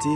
te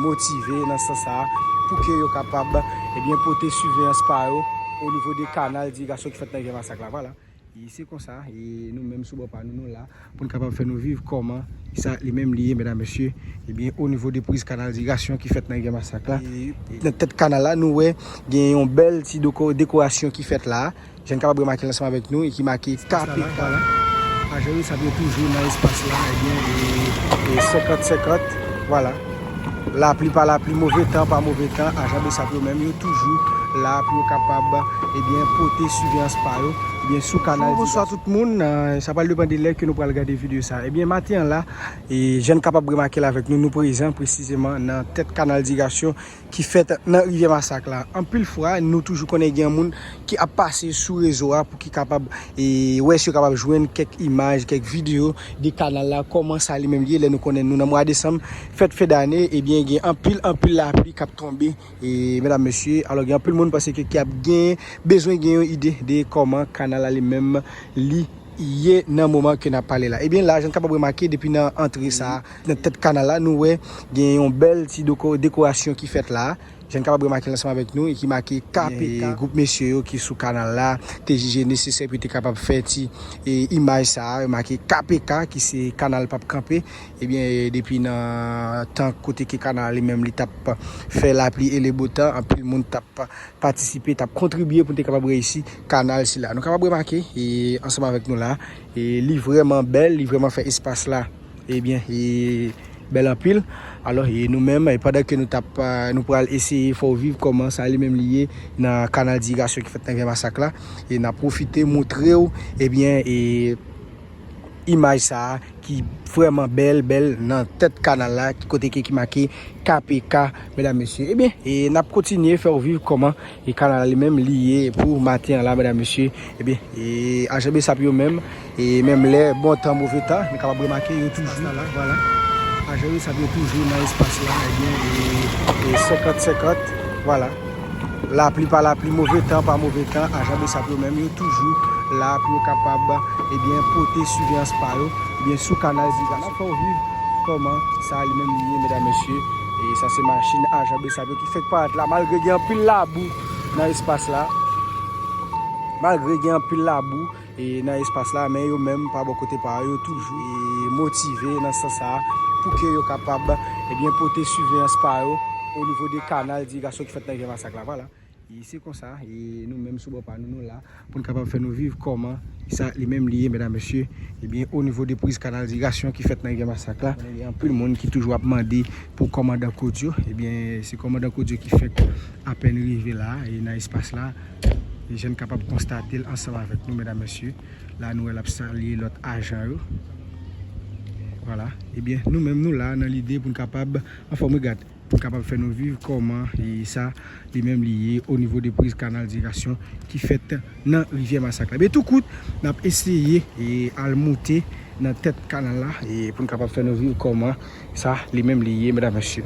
motive nan sans sa a pou ke yo kapab ebyen pote siveyans pa yo o nivo de kanal dirigasyon ki fèt nan rivyè masak la vwala e se konsa e nou menm sou bò pa nou nou la pou n kapab fè nou viv kòman sa li menm li ye medam mesye ebyen o nivo de priz kanal dirigasyon ki fèt nan rivyè masak la nan tèt kanal la nou wè gen yon bèl ti dekorasyon ki fèt la Jenn kalabre make l ansanm avèk nou e ki make Kapitala. Majoris ap yo toujou nan espas la ebyen e 50 50 vwala lapli pa lapli move tan pa move tan ajan bsap yo menm yo toujou la pou yo kapab ebyen pote siveyans pa yo ebyen sou kanal Bonjou bonswa tout moun sa pral depan de lè ke nou pral gade videyo sa ebyen maten an la e jenn kapab remake l avèk nou nou prezan presizeman nan tèt kanal digasyon ki fèt nan rivyè masak la anpil fwa nou toujou konnen gen moun ki ap pase sou rezo a pou ki kapab wè si yo kapab jwenn kèk imaj kèk video de kanal la kòman sa li menm li ye lè nou konnen nou nan mwa desanm fèt fen dane ebyen gen anpil anpil lapli kap tonbe e medam mesye alò gen anpil moun pase ki ap gen bezwen gen yon ide de kòman kanal la li menm li ye nan moman ke nap pale la ebyen la jan kapab remake depi nan antre sa. Nan tèt kanal la, nou wè gen yon bèl ti dekorasyon ki fèt la a. Jan n kapab remake l ansanm avèk nou e ki make KPK. Gwoup mesye yo ki sou kanal la te jije nesesè pou yo te kapab fè ti imaj sa a, remake KPK ki se kanal pap kanpe. Ebyen, depi nan tan kote ke kanal la li menm li t ap fè lapli e le bo tan, anpil moun t ap patisipe, t ap kontribye pou n te kapab reyisi kanal sila. Nou kapab remake ansanm avèk nou la a, li vrèman bèl, li vrèman fè espas la. e byen e bèl anpil alò e nou menm pandan ke nou tap nou pral eseye fè w viv kòman sa li menm li ye nan kanal dirigasyon ki fèt nan gen masak la e nap pwofite moutre w e byen e imaj sa a ki vrèman bèl bèl nan tèt kanal la kote ke ki make KPK medam mesye e byen e nap kontinye fè w viv kòman E kanal li menm li ye pou maten an la medam mesye ebyen e ajan bsap yo menm e menm lè bon tan move tan nou kapab remake yo toujou nan la vwala ajan bsap yo toujou nan espas la ebyen e e 50 50 vwala lapli pa lapli move tan pa move tan ajan bsap yo menm yo toujou la pou yo kapab ebyen pote siveyans pa yo ebyen sou kanal sa nap fè ou viv kòman sa li menm li ye medam mesye e sa se machin ajan bsap yo ki. Fenk parèt la malgre gen anpil labou nan espas la malgre gen anpil labou nan espas la men yo menm pa bò kote pa yo toujou motive nan sans sa pou ke yo kapab ebyen pote siveyans pa yo o nivo de kanal de irigasyon ki fèt nan Gè Masak la vwala e se konsa e nou menm sou bò pa nou nou la. Poun kapab fè nou viv kòman sa li menm li ye medam mesye ebyen o nivo de priz kanal dirasyon ki fèt nan rivyè masak la gen anpil moun ki toujou ap mande pou kòmandan kodio ebyen se kòmandan kodio ki fèk apèn rive la e nan espas la e jan n kapab konstate l ansanm avèk nou medam mesye la nou wè l ap salye lòt ajan yo vwala ebyen nou menm nou la nan lide poun kapab anfòm wi gad. Ki kapab fè nou viv kòman sa li menm li ye o nivo de priz kanal dirigasyon ki fèt nan rivyè masak la. Ebyen tou kout n ap eseye al moute nan tèt kanal la pou n kapab fè nou viv kòman sa li menm li ye medam mesye.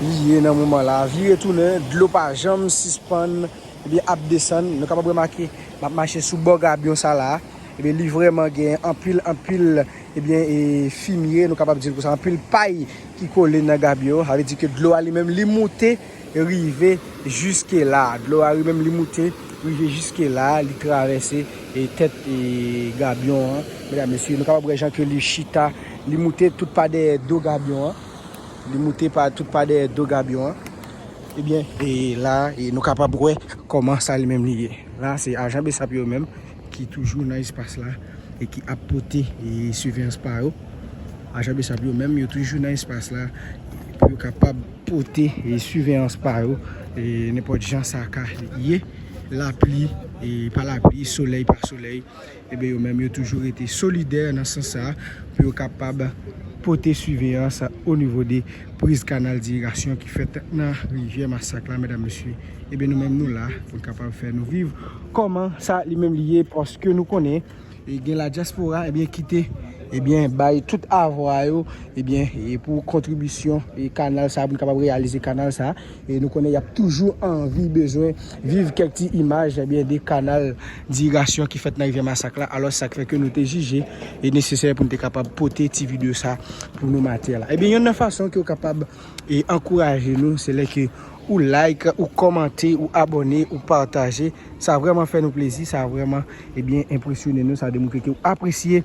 li ye nan moman la vire tounen dlo pa janm sispann ebyen ap desann nou kapab remake map mache sou bò gabyon sa la ebyen li vrèman gen anpil anpil ebyen e fimye nou kapab dil konsa anpil pay ki kole nan gabyon sa vle di ke dlo a li menm li moute rive jiske la dlo a li menm li moute rive jiske la li travèse e tèt e gabyon an medam mesye nou kapab wè jan ke li chita li moute tout pa dèyè do gabyon an. Li moute pa tout pa dèyè do Gabyon an. Ebyen, e la e nou kapab wè kòman sa li menm li ye. La se ajan Bsap yo menm ki toujou nan espas la e ki ap pote e siveyans pa yo. Ajan Bsap yo menm yo toujou nan espas la pou yo kapab pote e siveyans pa yo e nenpòt jan sa ka ye. Lapli e pa lapli, solèy pa solèy. Ebe yo menm yo toujou rete solidè nan sans sa a pou yo kapab pote siveyans o nivo de priz kanal dirigasyon ki fèt nan rivyè masak la medam mesye ebe nou menm nou la pou n kapab fè nou viv kòman sa li menm li ye paske nou konnen e gen ladyaspora ebyen kite ebyen bay tout avwa yo ebyen e pou kontribisyon e kanal sa a pou n kapab reyalize kanal sa a. E nou konnen y ap toujou anvi, bezwen viv kèk ti imaj ebyen de kanal dirigasyon ki fèt nan rivyè Masak la. Alòs sa k fè ke nou te jije li nesesè pou nou te kapab pote ti videyo sa pou nou matè la. Ebyen yonn nan fason ke ou kapab e ankouraje nou se lè ke ou like, ou kòmante, ou abòne, ou pataje. Sa vrèman fè nou plezi, sa vrèman ebyen enpresyone nou, sa demontre ke ou apresye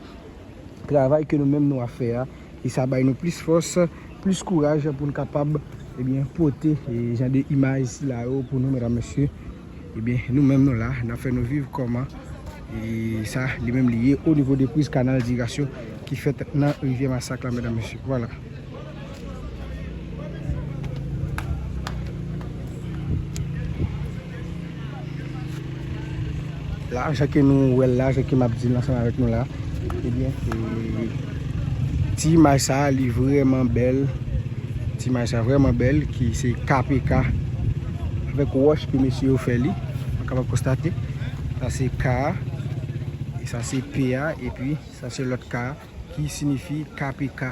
travay ke nou menm nou ap fè a. E sa bay nou plis fòs, plis kouraj pou n kapab ebyen pote jan de imaj sila yo pou nou medam mesye. Ebyen nou menm nou la n ap fè nou viv kòman e sa li menm li ye o nivo de priz kanal dirasyon ki fèt nan rivyè masak la medam mesye. Vwala. La jan ke nou wè l la, jan ke m ap di l ansanm avèk nou la, ebyen se ti imaj sa li vrèman bèl, ti imaj sa vrèman bèl ki se KPK avèk wòch ke mesye yo fè li, nou kapab konstate sa se K, sa se P a, epi sa se lòt K a ki sinifi KPK.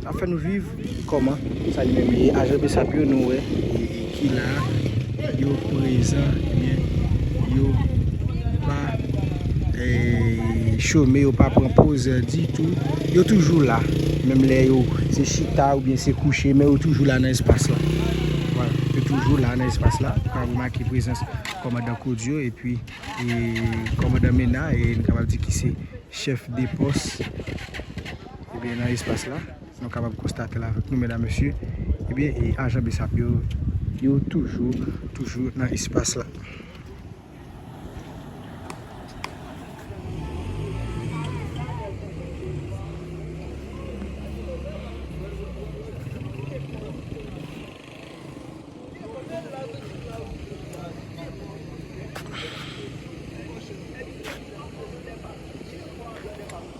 Ap fè nou viv kòman sa li menm ye ajan bsap yo nou wè ki la yo prezan ebyen yo pa chome yo pa pran poz ditou yo toujou la menm lè yo se chita oubyen se kouche men yo toujou la nan espas la yo toujou la nan espas la nou ka remake prezans kòmandan Kodio epi kòmandan Mena e nou kapab di ki se chèf de pòs. Ebyen nan espas la, nou kapab konstate la avèk nou medam mesye, ebyen e ajan bsap yo, yo toujou toujou nan espas la.